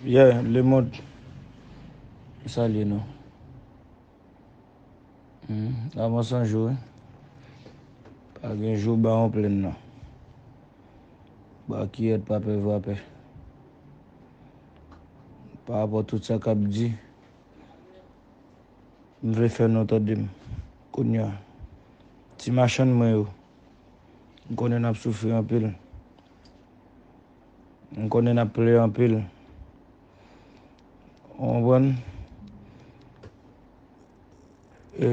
Yeah lemond m salye nou avan san jou wi pa gen jou bawon plenn nan ba kiyèt pa pè vrapè parapò tout sa kap di m vle fè nou tande m kounya ti machann mwen yo m konnen nap soufri anpil M konnen nap plè anpil. Ou konprann? E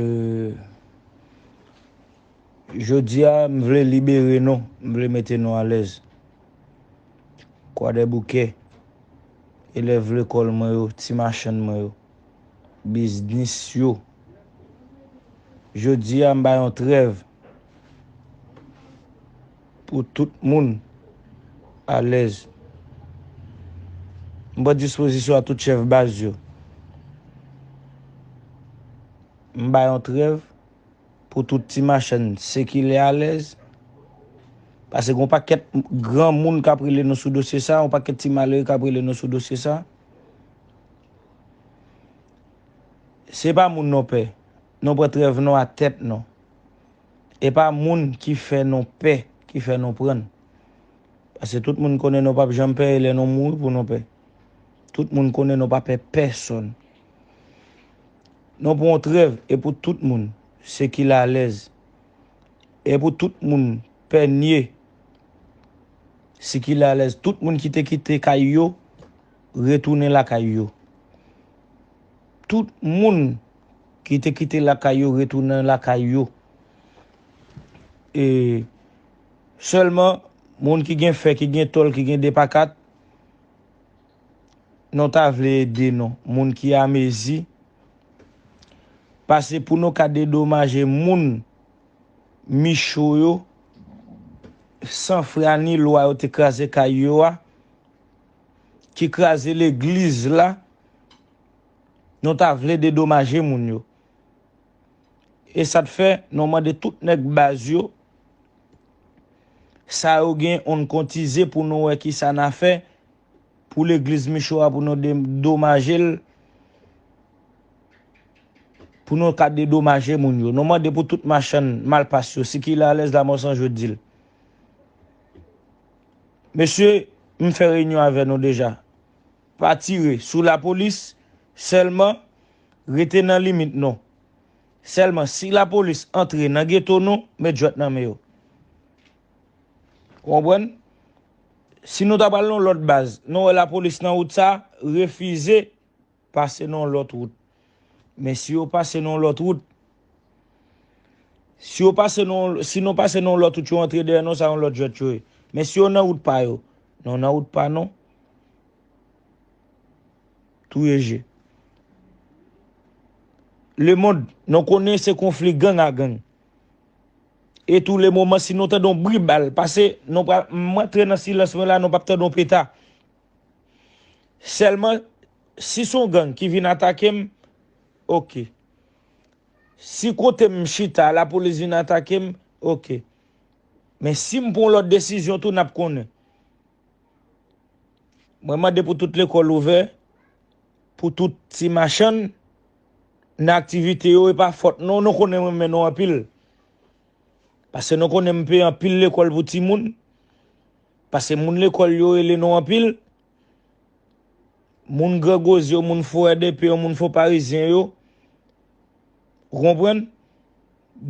jodi a m vle libere nou, m vle mete nou alèz. Kwadèboukè, elèv lekòl mwen yo, ti machann mwen yo, biznis yo. Jodi a m ba yon trèv. pou tout moun alèz. M pran dispozisyon a tout chèf baz yo. M bay yon trèv pou tout ti machann sikile alèz. Pase gon pakèt gran moun k ap rele nou sou dosye sa, yon pakèt ti malere k ap rele nou sou dosye sa. Se pa moun non pè. Nou pran trèv nou a tèt nou. E pa moun ki fè nou pè ki fè nou pran. Pase tout moun konnen nou pap janm pè e lè nou mouri pou nou pè. Tout moun konnen nou pa pè pèsonn. Nou pran yon trèv e pou tout moun se ki lalèz. E pou tout moun pè nye si ki lalèz. Tout moun ki te kite kay yo retounen lakay yo. Tout moun ki te kite lakay yo retounen lakay yo. E sèlman moun ki gen fè, ki gen tòl, ki gen depakat, nou ta vle ede nou. Moun ki a mezi, pase pou nou ka dedomaje moun Micho yo, san fra ni lwa yo te kraze kay yo a, ki kraze legliz la, Nou ta vle dedomaje moun yo. E sa t fè nou mande tout nèg baz yo sa yo gen on n kontize pou nou wè ki sa n a fè pou legliz Micho a pou nou dedomaje l pou nou ka dedomaje moun yo. Nou mande pou tout machann malpas yo sikile alèz Lamò San Je di l. Mesye, m fè reyinyon avè nou deja. Pa tire sou la polis selman rete nan limit nou selman si la polis antre nan geto nou met jwet nan men yo ou konprann si nou ta pral nan lot baz nou wè la polis nan wout sa refize pase nan lot wout. Men si yo pase nan yon lòt wout, si yo pase nan yon, si nou pase nan yon lòt wout yo antre dèyè nou sa yon lòt jwèt yo ye. Men si yo nan wout pa yo, nou nan wout pa nou, touye je. Lemond, nou konnen se konfli gang a gang. E tou le moman si nou tande yon bri bal pase, nou pral, m antre nan silans mwen la nou pap tande yon peta. Sèlman Si son gang ki vin atakem ok. Si kotem m chita lapolis vin atakem ok. Men sim pran yon lot desizyon tou nap konnen. Mwen mande pou tout lekol ouvè, pou tout ti machann nan aktivite yo epa fot nou, nou konnen mwen renmen nou anpil. Pase nou konnen m peye anpil lekol pou timoun. Pase moun lekol yo rele nou anpil. moun grangoz yo, moun fo RDP yo, moun fo parizyen yo, ou konprann,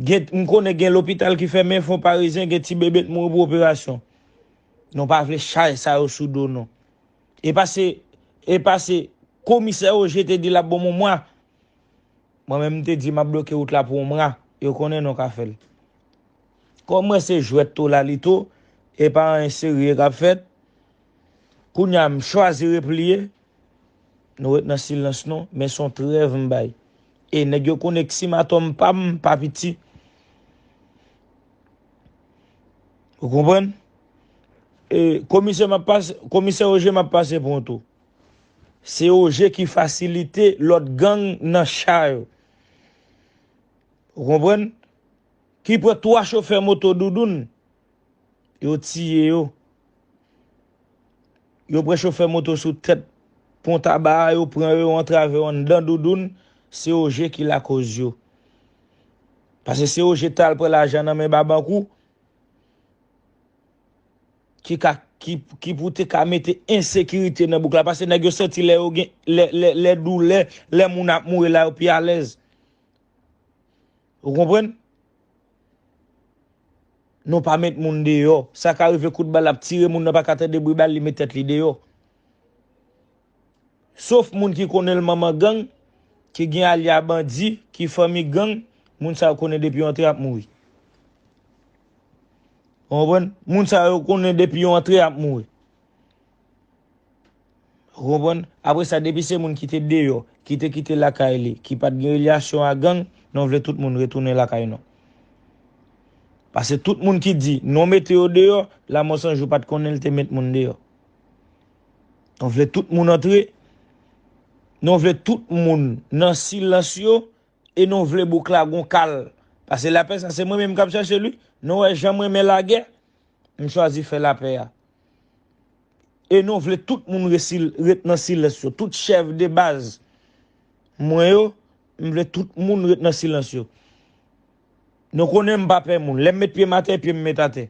gen, m konnen gen lopital ki fèmen, fon parizyen gen ti bebe t mouri pou operasyon. Nou pa vle chay sa yo sou do nou. E pa se, e pa se komisè Ogé te di l ap ban m yon mwa, mwen menm m te di m ap bloke wout la pou yon mwa, yo konnen nou ka fè l. Kòm m wè se jwèt to lalito, e pa anyen serye k ap fèt, Kounya m chwazi repliye, nou ret nan silans nou, men son trèv m bay. E nèg yo konnen k sim atòm pa m pa piti. Ou konprann? E komisè map pase, komisè Ogé map pase pran tou. Se Ogé ki fasilite lòt gang nan cha yo. Ou konprann? Ki pran 3 chofè moto Doudoun. Yo tiye yo. Yo pran chofè moto sou tèt pon taba a, yo pran yo, yo antrave yo anndan doudoun, se Ogé ki lakoz yo. Pase se Ogé tal pran lajan nan men Babankou, ki ka, ki pou te ka mete ensekirite nan bouk la, pase nèg yo santi lè yo gen, lè, lè, lè doulè, lè moun ap mouri la yo pi alèz. Ou konprann? Nou pa met moun deyò. Sa ka rive kout bal ap tire moun nan pa ka tande bri bal li met tèt li deyò. Sof moun ki konnen l manman gang, ki gen alya bandi, ki fanmi gang, moun sa yo konnen depi yo antre y ap mouri. Ou konprann? Moun sa yo konnen depi yo antre y ap mouri. Ou konprann? Apre sa depi se moun ki te deyò, ki te kite lakay li, ki pat gen relyasyon a gang, non vle tout moun retounen lakay non. Pase tout moun ki di non mete yo deyò, lamò san jou pat konnen li te met moun deyò. Non vle tout moun antre, non vle tout moun nan silans yo, e non vle bouk la gon kal. Pase lapè sa se mwen menm kap chache l wi, non wè janm renmen lagè, m chwazi fè lapè a. e nou vle tout moun resi ret nan silans yo tout chèf de baz mwen yo m vle tout moun ret nan silans yo nou konnen m pa pè moun lè m met pye m atè pye m met atè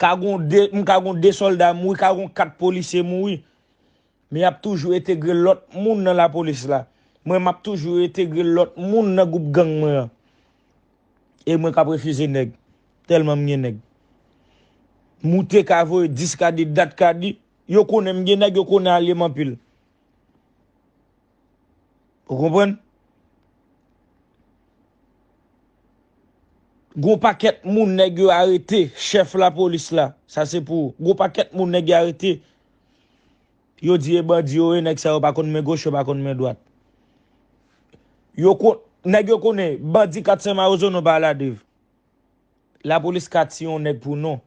ka gon 2 m ka gon 2 sòlda mouri ka gon 4 polisye mouri. Men yap toujou etegre lot moun nan la police la. Mwen map toujou etegre lot moun nan group gang mwen an. E mwen kap refize neg. Telman m gen neg. Moute ka voye 10 ka di dat ka di. Yo konnen m gen neg yo konnen alye m anpil. Ou konprann? Gon paket moun neg yo arete chef la police la. Sa se pou ou. Gon paket moun neg yo arete Yo di e bandi yo e nèg sa yo pa konn men goch yo pa konn men dwat. Yo kon nèg yo konnen bandi 4 sen mawozo non pa aladev. Lapolis ka tiye yon nèg pou non.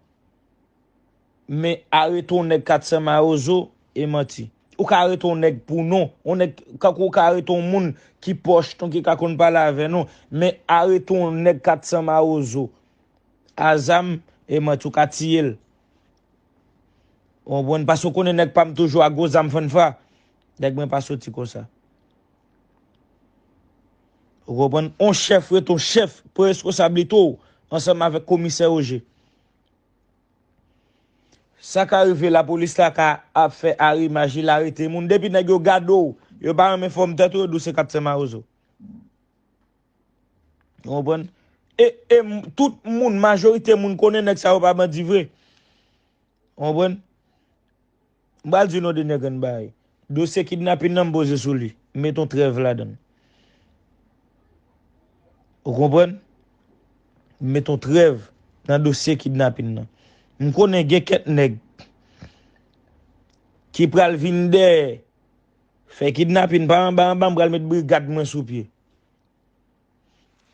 Men arete yon nèg 4 sen mawozo e manti. Ou ka arete yon nèg pou non. Yon nèg kankou ou ka arete yon moun ki pòch ton ki ka konn pale avè nou. Men arete yon nèg 4 sen mawozo a zam e manti ou ka tiye l. Ou konprann? Paske ou konnen nèg pa m toujou ak gwo zam fannfa. Nèg mwen pa soti konsa. Ou konprann? On chèf ret on chèf pou reskosablite w ansanm avèk komisè Roger. Sa ka rive lapolis la ka ap fè arimaj li la arete moun. Depi nèg yo gade w, yo pa renmen fòm tèt ou, yo di w se kaptè mawozo. Ou konprann? E, e, tout moun, majorite moun konnen nèg sa yo pa bandi vre. Ou konprann? M pral di nou de nèg ann bagay. Dosye kidnapin nan m poze sou li. M met yon trèv ladan l. Ou konprann? M met yon trèv nan dosye kidnapin nan. M konnen gen kèk nèg ki pral vin dèyè fè kidnapin pa anba anba m pral met brigad mwen sou pye.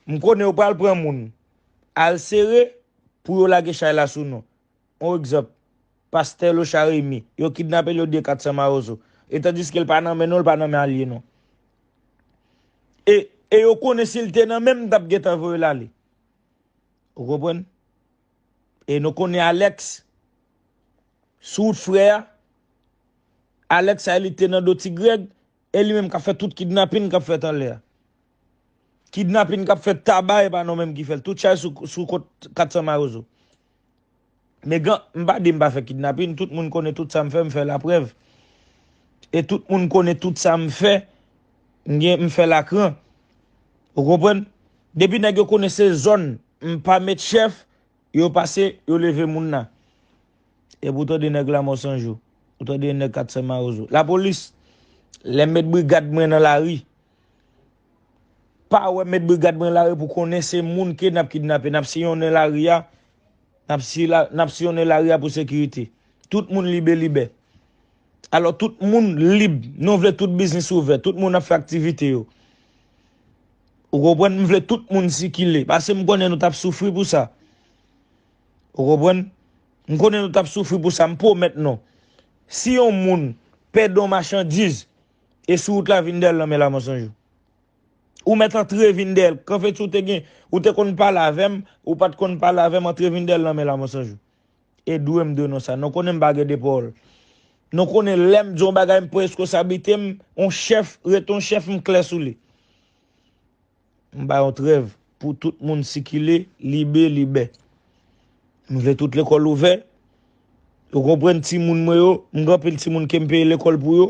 M konnen yo pral pran moun. Al sere pou yo lage chay la sou nou. On egzanp, Pastè Locha Remy, yo kidnape l yo diye 400 mawozo. E tandiske l pa nan men nou, l pa nan men alye nou. E, e yo konnen si l te nan men m, m t ap gentan voye l ale. Ou konprann? E nou konnen Alex, sou wout frè a, Alex sa e li te nan do Ti Grèg, E li menm kap fè tout kidnapin kap fèt anlè a. Kidnapin kap fèt Taba epa nou menm ki fèl. Tout chay sou kont 400 mawozo. Me gan, m pa di m pa fè kidnapin, tout moun konnen tout sa m fè, m fè la prèv. E tout moun konnen tout sa m fè, m gen, m fè la kran. Ou konprann? Depi nèg yo konnen se zòn, m pa met chèf. Yo pase, yo leve moun la. Epi ou tande nèg Lamò 100 jou. Ou tande yon nèg 400 mawozo. Lapolis, lè mèt brigad mwen nan lari, pa wè mèt brigad mwen nan lari pou konnen se moun ke n ap kidnape. N ap siyonnen lari a, n ap siyonnen lari a pou sekirite. Tout moun libe libè. Alò tout moun lib. Nou vle tout biznis ouvè. Tout moun ap fè aktivite yo. Ou konprann? M vle tout moun sikile. Paske m konnen nou t ap soufri pou sa. Ou konprann? M konnen nou t ap soufri pou sa. M pwomèt nou. Si yon moun pèdi yon machandiz e sou wout la vin dèyè l nan men la Monsanjou. Ou mèt antre vin dèyè l. Kanfeti ou te gen, ou te konn pale avè m, ou pa t konn pale avè m antre vin dèyè l nan men la Monsanjou. E dwe m dwe nou sa. Nou konnen m pa gen de pawòl. Nou konnen lè m di yon bagay m pran reskonsablite m, yon chèf rete yon chèf m klè sou li. M bay yon trèv pou tout moun sikile libe libè. M vle tout lekòl ouvè. Ou konprann timoun mwen yo, m gen anpil timoun ke m peye lekòl pou yo.